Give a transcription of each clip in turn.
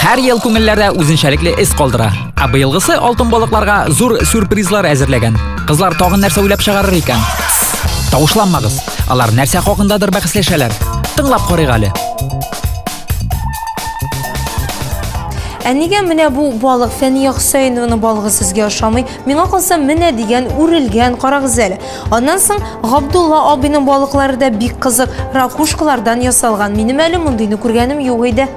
Һәр ел күңелләрдә үзенчәлекле эз калдыра. Ә быелгысы алтын балыкларга зур сюрпризлар әзерләгән. Кызлар тагын нәрсә уйлап чыгарыр икән? Тавышланмагыз. Алар нәрсә хакындадыр бәхәсләшәләр. Тыңлап карыйк әле. Ә нигә менә бу балык Фәния Хөсәенованы балыгы сезгә ошамый? Миңа калса менә дигән үрелгән карагыз әле. Аннан соң Габдулла абыйның балыклары да бик кызык, ракушкалардан ясалган. Минем әле мондыйны күргәнем юк иде.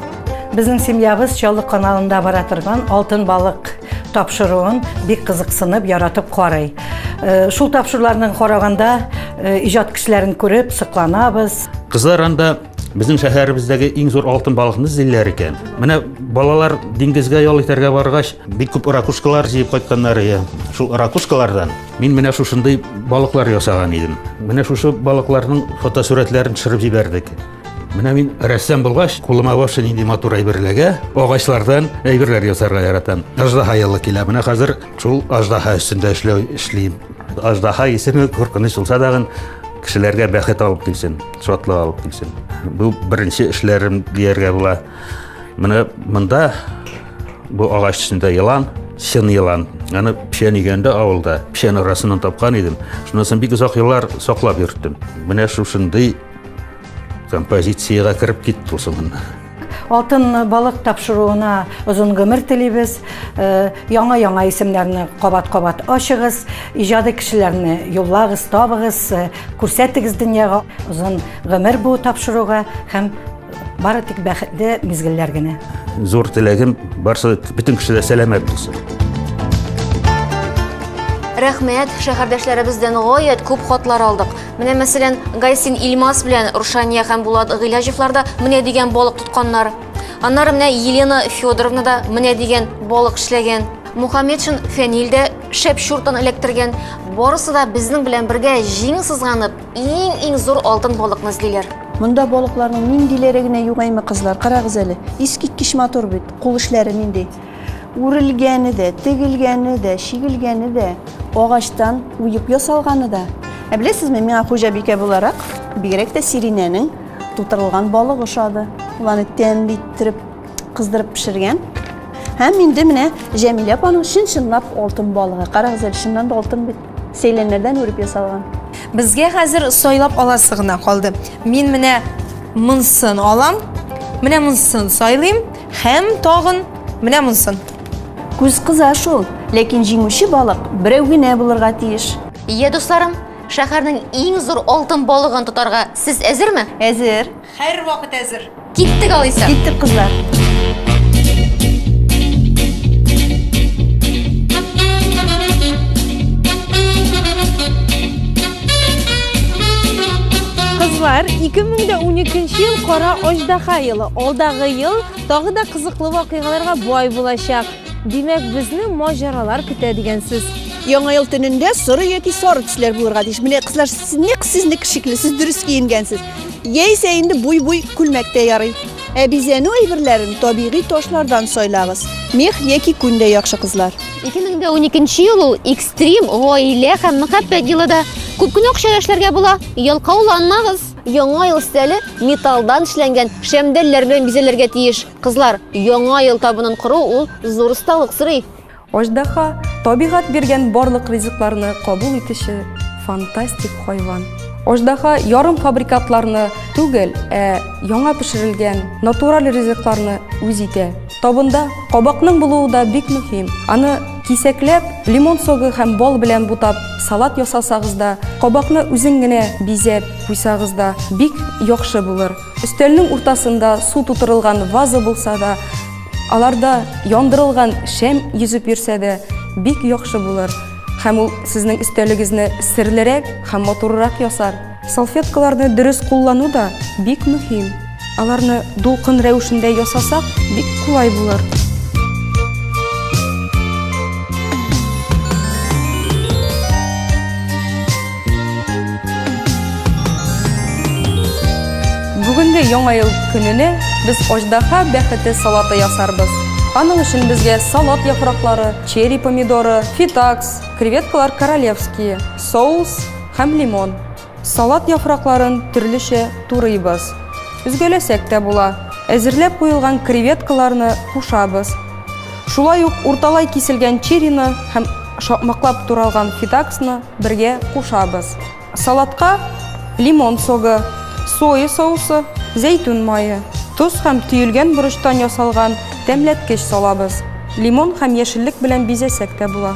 Безнең семьябыз Чаллы каналында бара торган Алтын балык тапшыруын бик кызыксынып, яратып карый. Э, шул тапшыруларны караганда э, иҗат кешеләрен күреп сокланабыз. Кызлар анда безнең шәһәребездәге иң зур алтын балыкны эзлиләр икән. Менә балалар диңгезгә ял итәргә баргач, бик күп ракушкалар җыеп кайтканнар ия. Шул ракушкалардан мин менә шушындый балыклар ясаган идем. Менә шушы балыкларның фотосурәтләрен төшереп җибәрдек. Менә мин рәссам булгач, кулыма вовсе нинди матур әйбер эләгә. Агачлардан әйберләр ясарга яратам. Аждаһа ялы килә. Менә хәзер шул аждаһа өстендә эшләү эшлим. Аждаһа исеме куркыныч булса дагын кешеләргә бәхет алып килсен, шатлык алып килсен. Бу беренче эшләрем дияргә була. Менә монда бу агач өстендә елан, чын елан. Аны печән игәндә авылда, печән арасыннан тапкан идем. Шунысын бик озак еллар саклап йөрттем. Менә шушындый Композицияга кереп китте ул соңында. Алтын балык тапшыруына озын гомер телибез. Э, яңа яңа исемнәрне кабат-кабат ачыгыз, иҗади кешеләрне юллагыз, табыгыз, э, күрсәтегез дөньяга. Озын гомер бу тапшыруга һәм Бары тик бәхетле мизгелләр генә. Зур теләгем барсы бөтен кеше дә сәламәт булсын. Рәхмәт, шәһәрдәшләребездән гаять күп хатлар алдык. Менә мәсәлән, Гайсин Илмас белән Рушания һәм Булат Гыйләҗевлар да менә дигән балык тотканнар. Аннары менә Елена Федоровна да менә дигән балык эшләгән. Мухаммедшин Фәнил дә шәп чуртан эләктергән. Барысы да безнең белән бергә җиң сызганып, Иң-иң зур алтын балыкны эзлиләр. Монда балыкларның ниндиләре генә юк әйме, кызлар, карагыз әле. Искиткеч матур бит. Кул эшләре нинди. Үрелгәне дә, тегелгәне дә, чигелгәне дә, агачтан уеп ясалганы да. Ә беләсезме, миңа хуҗабикә буларак, бигрәк тә Сиринәнең тутырылган балык ошады. Ул аны тәмле иттереп, кыздырып пешергән. Һәм инде менә Җәмилә апаның чын-чынлап алтын балыгы. Карагыз әле, чыннан да алтын бит. Сәйләннәрдән үреп ясалган. Безгә хәзер сайлап аласы гына калды. Мин менә монсын алам, менә монсын сайлыйм һәм тагын менә монсын. Күз кыза шул, ләкин җиңүче балык берәү генә булырга тиеш. Ие, дусларым, шәһәрнең иң зур алтын балыгын тотарга сез әзерме? Әзер. Һәрвакыт әзер. Киттек алайса. Киттек, кызлар. Кызлар, 2012 ел кара аждаха елы. Алдагы ел тагы да кызыклы вакыйгаларга бай булачак. Димәк, безне маҗаралар көтә дигән сүз. Яңа ел төнендә соры яки сары төсләр булырга тиеш. Менә кызлар, сез нәкъ сезнеке шикелле, сез дөрес киенгәнсез. Яисә инде буй-буй күлмәк тә ярый. Ә бизәнү әйберләрен табигый ташлардан сайлагыз. Мех яки күн дә яхшы кызлар. 2012 ел ул экстрим гаилә һәм мәхәббәт елы да. Күп кенә акчага эшләргә була. Ялкауланмагыз! Яңа ел өстәле металлдан эшләнгән шәмдәлләр белән бизәлергә тиеш. Кызлар, яңа ел табынын кору ул зур осталык сорый. Аждаһа, табигать биргән барлык ризыкларны кабул итүче фантастик хайван. Аждаһа ярым фабрикатларны түгел, ә яңа пешерелгән натураль ризыкларны үз итә. Табында кабакның булуы да бик мөһим. Аны кисәкләп, лимон согы һәм бал белән бутап, салат ясасагыз да, кабакны үзең генә бизәп куйсагыз да бик яхшы булыр. Өстәлнең уртасында су тутырылган ваза булса да, Аларда яндырылган шәм йөзеп йөрсә дә, бик яхшы булыр һәм ул сезнең өстәлегезне серлерәк һәм матуррак ясар. Салфеткаларны дөрес куллану да бик мөһим. Аларны дулкын рәвешендә ясасак, бик кулай булыр. Бүгенге яңа ел көненә без аждаһа бәхете салаты ясарбыз. Аның өчен безгә салат яфраклары, черри помидоры, фитакс, креветкалар королевские, соус һәм лимон. Салат яфракларын төрлечә турыйбыз. Өзгәләсәк тә була. Әзерләп куелган креветкаларны кушабыз. Шулай ук урталай киселгән черрины һәм шакмаклап туралган фидаксны бергә кушабыз. Салатка лимон согы, соя соусы, зәйтүн мае, тоз һәм төелгән борычтан ясалган тәмләткеч салабыз. Лимон һәм яшеллек белән бизәсәк тә була.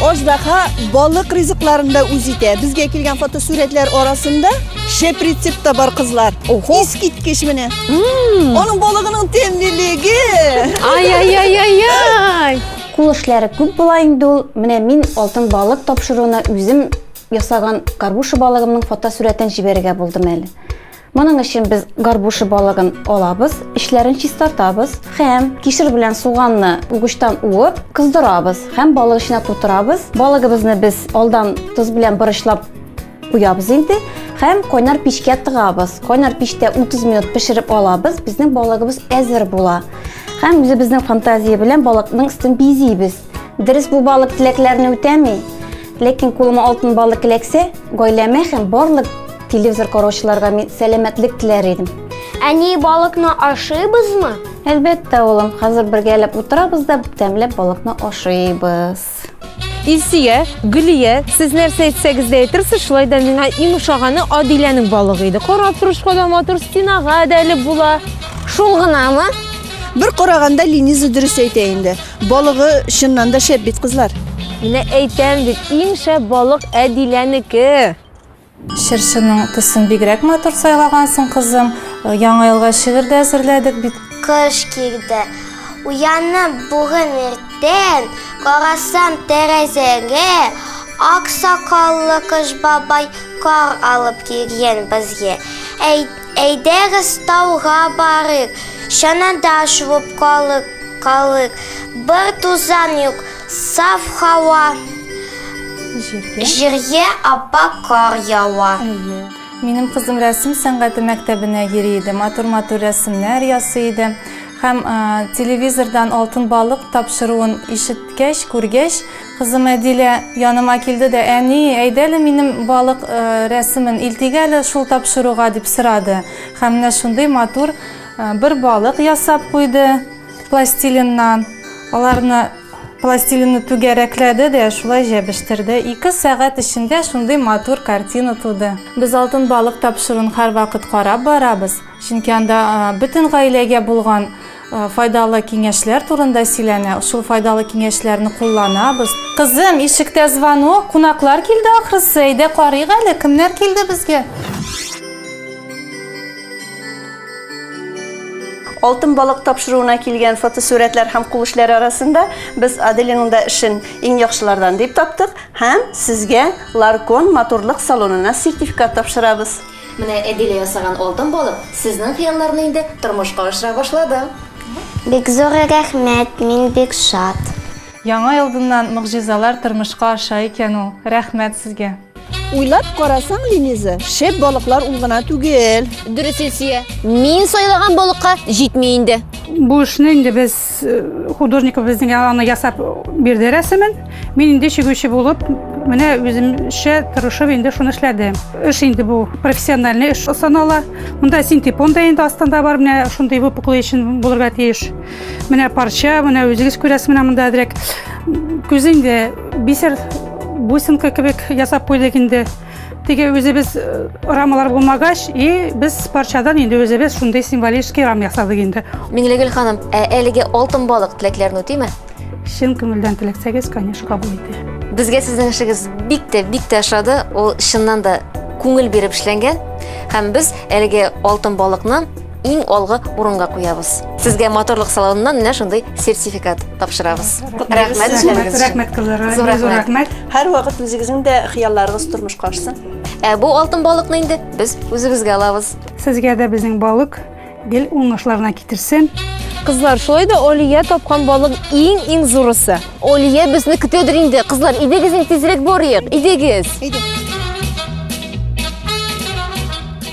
Аждаһа балык ризыкларын да үз итә. Безгә килгән фотосурәтләр арасында шәп рецепт та бар кызлар. Охо. Искиткеч менә. Аның балыгының тәмлелеге. Ай-яй-яй-яй-яй! Кул эшләре күп була инде ул. Менә мин алтын балык тапшыруына үзем ясаган горбуша балыгымның фотосурәтен җибәрергә булдым әле. Моның өчен без горбуша балыгын алабыз, эчләрен чистартабыз һәм кишер белән суганны угычтан уып, кыздырабыз һәм балык эченә тутырабыз. Балыгыбызны без алдан тоз белән борычлап куябыз инде һәм кайнар пичкә тыгабыз. Кайнар пичтә 30 минут пешереп алабыз, безнең балыгыбыз әзер була. Һәм үзебезнең фантазия белән балыкның өстен бизибез. Дөрес бу балык теләкләрне үтәми. Ләкин кулыма алтын балык эләксә, гаиләмә һәм барлык телевизор караучыларга мин сәламәтлек теләр идем. Әни, балыкны ашыйбызмы? Әлбәттә, улым, хәзер бергәләп утырабыз да тәмләп балыкны ашыйбыз. Илсөя, Гөлия, сез нәрсә әйтсәгез дә әйтерсез, шулай да миңа иң ошаганы Адиләнең балыгы иде. Карап торышка да матур, спинага да элеп була. Шул гынамы? Бер караганда Лениза дөрес әйтә инде. Балыгы чыннан да шәп бит, кызлар. Менә әйтәм бит, иң шәп балык Әдиләнеке. Чыршының төсен бигрәк матур сайлагансың, кызым. Яңа елга шигырь дә әзерләдек бит. Кыш килде. Уянып бүген иртән, карасам тәрәзәгә, ак сакаллы кыш бабай кар алып килгән безгә. Әй Әйдәгез тауга барыйк, чанада шуып калык, калык. Бер тузан юк, саф һава. Җиргә. Җиргә апа кар ява. Минем кызым рәсем сәнгате мәктәбенә йөри иде, матур-матур рәсемнәр ясый иде. Һәм телевизордан алтын балык тапшыруын ишеткәч, күргәч, Кызым Әдилә яныма килде дә, Әни, әйдәле минем балык рәсемен илтик әле шул тапшыруга, дип сорады. Һәм менә шундый матур бер балык ясап куйды пластилиннан. Аларны пластилинны түгәрәкләде дә, шулай җәбештерде. Ике сәгать эчендә шундый матур картина туды. Без алтын балык тапшыруын һәрвакыт карап барабыз, чөнки анда бөтен гаиләгә булган Файдалы киңәшләр турында сөйләнә, шул файдалы киңәшләрне кулланабыз. Кызым, ишектә звонок, кунаклар килде ахрысы, әйдә карыйк әле, кемнәр килде безгә? Алтын балык тапшыруына килгән фотосурәтләр һәм кул эшләре арасында без Аделиның да эшен иң яхшылардан дип таптык һәм сезгә Ларкон моторлык салонына сертификат тапшырабыз. Менә Әдилә ясаган алтын балык сезнең хыялларны инде тормышка ашыра башлады. Бик зур рәхмәт, мин бик шат. Яңа елдыннан могҗизалар тормышка аша икән ул, рәхмәт сезгә. Уйлап карасаң, Линиза, шәп балыклар ул гына түгел. Дөрес Илсөя, мин сайлаган балыкка җитми инде. Бу эшне инде без Художник безнең аны ясап бирде рәсемен. Мин инде чигүче булып, менә үземчә тырышып инде шуны эшләдем. Эш инде бу профессиональный эш санала. Монда синтепон да инде астында бар, менә шундый выпуклый өчен булырга тиеш. Менә парча, менә үзегез күрәсез, менә монда директ күз инде бисер бусинка кебек ясап куйдык инде. Теге үзебез э, рамалар булмагач, и без парчадан инде үзебез шундый символический рам ясадык инде. Миңлегөл ханым, ә әлеге алтын балык теләкләрне үтиме? Чын күңелдән теләксәгез, конечно, кабул итә. Безгә сезнең эшегез бик тә бик тә ошады. Ул чыннан да күңел биреп эшләнгән. Һәм без әлеге алтын балыкны иң алгы урынга куябыз. Сезгә моторлык салоныннан менә шундый сертификат тапшырабыз. Рәхмәт, рәхмәт, рәхмәт кызларга. Зур рәхмәт. Һәр вакыт үзегезнең дә хыялларыгыз тормышка ашсын. Ә бу алтын балыкны инде без үзебезгә алабыз. Сезгә дә безнең балык гел уңышларына китерсен. Кызлар, шулай да Олия тапкан балык иң-иң зурысы. Олия безне көтәдер инде. Кызлар, идегез инде тизрәк барыйк. Идегез. Идек.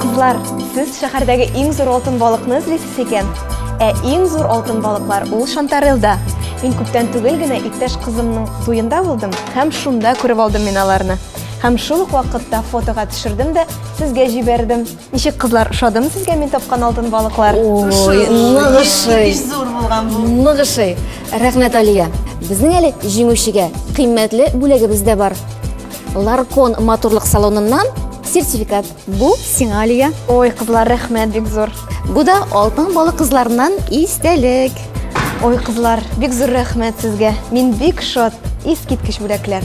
Кызлар, сез шәһәрдәге иң зур алтын балыкны эзлисез икән. Ә иң зур алтын балыклар ул Шантарелда. Мин күптән түгел генә иптәш кызымның туенда булдым һәм шунда күреп алдым мин аларны. Һәм шул ук вакытта фотога төшердем дә сезгә җибәрдем. Ничек кызлар, ошадымы сезгә мин тапкан алтын балыклар? Ой, ныгышый. Еш зур булган бу. Ныгышый. Рәхмәт, Алия. Безнең әле җиңүчегә кыйммәтле бүләгебез дә бар. Ларкон матурлык салоныннан сертификат. Бу сиңа, Алия. Ой, кызлар, рәхмәт бик зур. Бу да алтын балык кызларыннан истәлек. Ой, кызлар, бик зур рәхмәт сезгә. Мин бик шат. Искиткеч бүләкләр.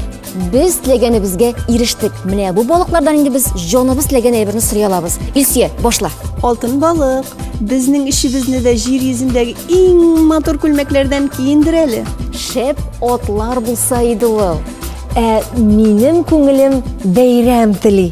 Без теләгәнебезгә ирештек. Менә бу балыклардан инде без җаныбыз теләгән әйберне сорый алабыз. Илсөя, башла. Алтын балык, безнең эшебезне дә җир йөзендәге иң матур күлмәкләрдән киендер әле. Шәп атлар булса иде ул. Ә минем күңелем бәйрәм тели.